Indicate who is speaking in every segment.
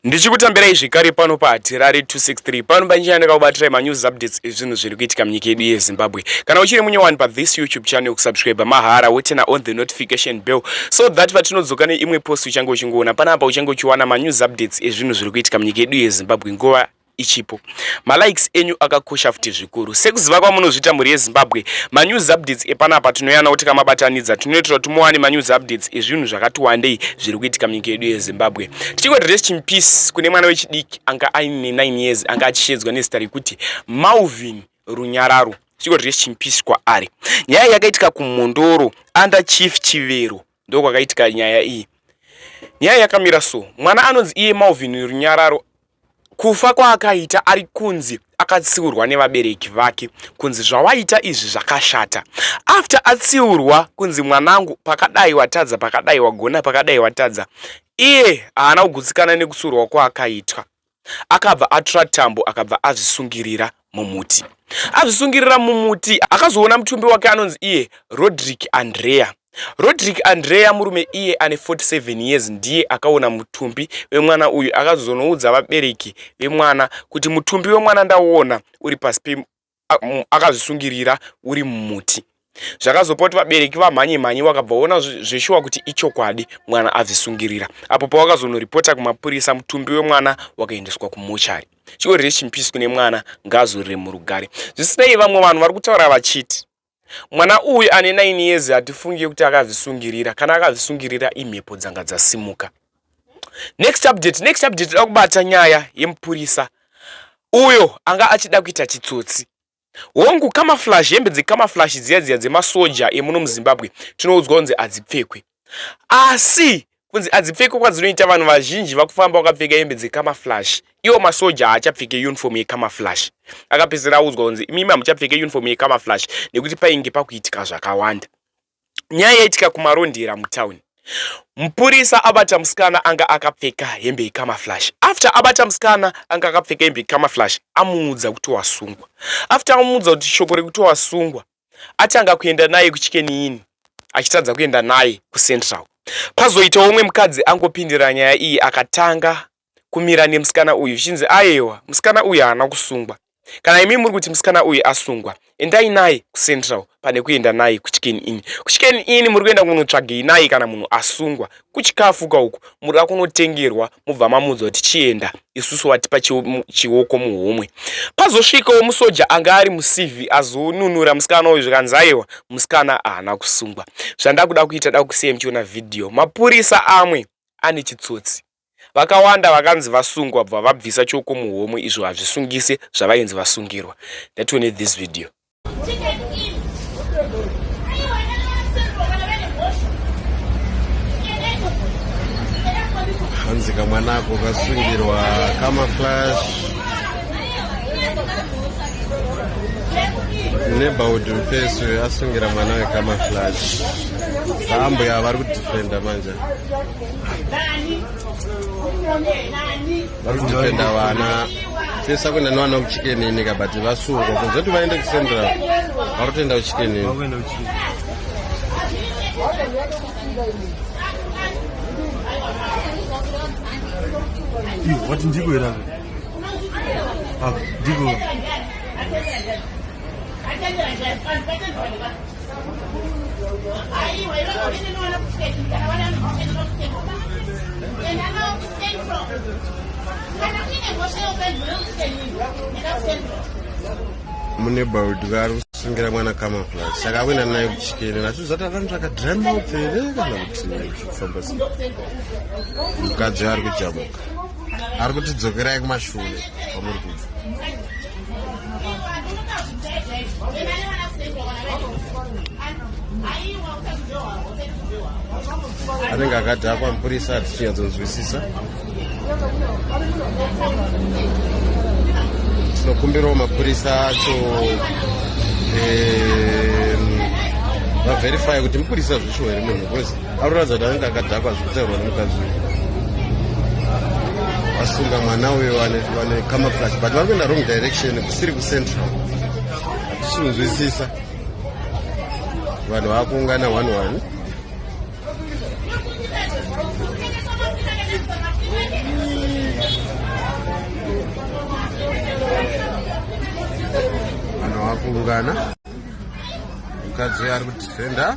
Speaker 1: ndichikutambirai zvekare pano pahatirari 263 pano panjira ndakakubatirai manews updates ezvinhu zviri kuitika munyika yedu yezimbabwe kana uchiri munyowani pathis youtube channel kusubscribe mahara wotena on the notification bell so that patinodzoka neimwe post uchange uchingoona panapa uchange uchiwana manews updates ezvinhu zviri kuitika munyika yedu yezimbabwe nguva ichipo malikes enyu akakosha futi zvikuru sekuziva kwamunozviita mhuri yezimbabwe manews updates epanapa tinoyana kuti kamabatanidza tinoitira kuti muwane manews updates ezvinhu zvakati wandei zviri kuitika munyika yedu yezimbabwe tichingo rest in peace kune mwana wechidiki anga aine 9 years anga achishedzwa nezita rekuti malvin runyararo tichingo rest in peace kwaari nyaya yakaitika kumhondoro under chief chivero Ndokwakaitika nyaya iyi. Nyaya yakamira so, mwana anonzi iye Malvin Runyararo kufa kwaakaita ari kunzi akatsiurwa nevabereki vake kunzi zvawaita izvi zvakashata after atsiurwa kunzi mwanangu pakadai watadza pakadai wagona pakadai watadza iye haana kugutsikana nekutsiurwa kwaakaitwa Akabva atora tambo akabva azvisungirira mumuti. Azvisungirira mumuti akazoona mutumbi wake anonzi iye Rodrick Andrea. Rodrick Andrea murume iye ane 47 years ndiye akaona mutumbi wemwana uyu akazonoudza vabereki vemwana kuti mutumbi wemwana ndaona uri pasi akazvisungirira uri mumuti zvakazopa kuti vabereki vamhanye mhanye vakabva vaona zveshuwa kuti ichokwadi mwana azvisungirira apo pavakazonoripota kumapurisa mutumbi wemwana wakaendeswa kumochari chiorire chimpisi kune mwana ngaazorire murugare zvisinei vamwe vanhu vari kutaura vachiti Mwana uyu ane 9 years hatifunge kuti akazvisungirira kana akazvisungirira imhepo dzanga dzasimuka. Next update, next update tinoda kubata nyaya yemupurisa uyo anga achida kuita chitsotsi. Hongu camouflage hembe dzecamouflage dziya dziya dzemasoja emuno muZimbabwe tinoudzwa kunzi hadzipfekwe. asi kunzi adzipfeke kwadzinoita vanhu vazhinji vakufamba vakapfeka hembe dzekamaflash iwo masoja haachapfeke uniform yekamaflash akapedzisira audzwa kunzi imimi hamuchapfeke uniform yekamaflash nekuti painge pakuitika zvakawanda nyaya yaitika kumarondera mutown mupurisa abata musikana anga akapfeka hembe yekamaflash after abata musikana anga akapfeka hembe yekamaflash amuudza kuti wasungwa after amuudza kuti shoko rekuti wasungwa atanga kuenda naye kuchikeniini achitadza kuenda naye kucentral pazoitawo umwe mukadzi angopindira nyaya iyi akatanga kumira nemusikana uyu zvichinzi ayewa musikana uyu haana kusungwa kana imi muri kuti musikana uyu asungwa endai naye kucentral pane kuenda naye kuchicken in kuchicken in muri kuenda kunotsvagei naye kana munhu asungwa kuchikafu ka uku muri akunotengerwa mubva mamuudzwa kuti chienda isusu watipa chioko muhomwe pazosvikawo musoja anga ari mucv azonunura musikana uyu zvikanzi aiwa musikana haana kusungwa zvandakuda kuita da kusiya muchiona vhidhiyo mapurisa amwe ane chitsotsi vakawanda vakanzi vasungwa bva vabvisa chioko muhomwe izvo hazvisungise zvavainzi vasungirwa ndatione this video
Speaker 2: hanzi kamwana ako kasungirwa kamaflash neighborhood mfesi uyo asungira mwana wekamaflash ambuya vari kudifenda manje vari kudependa vana tesa kuenda nevana kuchikenini ka but vasungwa kunze kuti vaende kucentral vari kutoenda kuchikenini
Speaker 3: wati ndiko here ndiko
Speaker 2: mune baudwa ari kusungira mwana kamafla saka akuenda naye kuchikene nacho zvati akantsvaka drama upfere kana kuti kufamba se mukadzi ari kujamuka ari kutidzokerai kumashure kwamuri kubva anenge akadhakwa mupurisa atichinyadzonzwisisa tinokumbirawo mapurisa acho vaverifye kuti mupurisa zvishuwa here munhu bcause Arikuratidza kuti anenge akadhakwa zvekutaurwa nemukadzi uyu. Asunga mwana uyo vane camouflage but vari kuenda wrong direction kusiri kucentral. Hatishinzwisisa. Vanhu vakuungana one one. Vanhu vakuungana. Mukadzi uyo ari kudefender.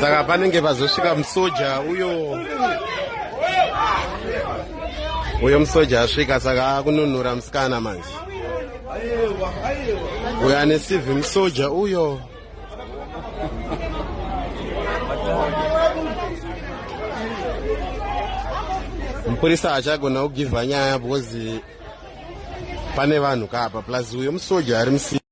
Speaker 2: saka panenge pazosvika musoja uyo uyo musoja asvika saka akununura musikana manje uyo ane civhi musoja uyo mupurisa haachagona kugivha nyaya because pane vanhu kaapa plus uyo musoja ari musi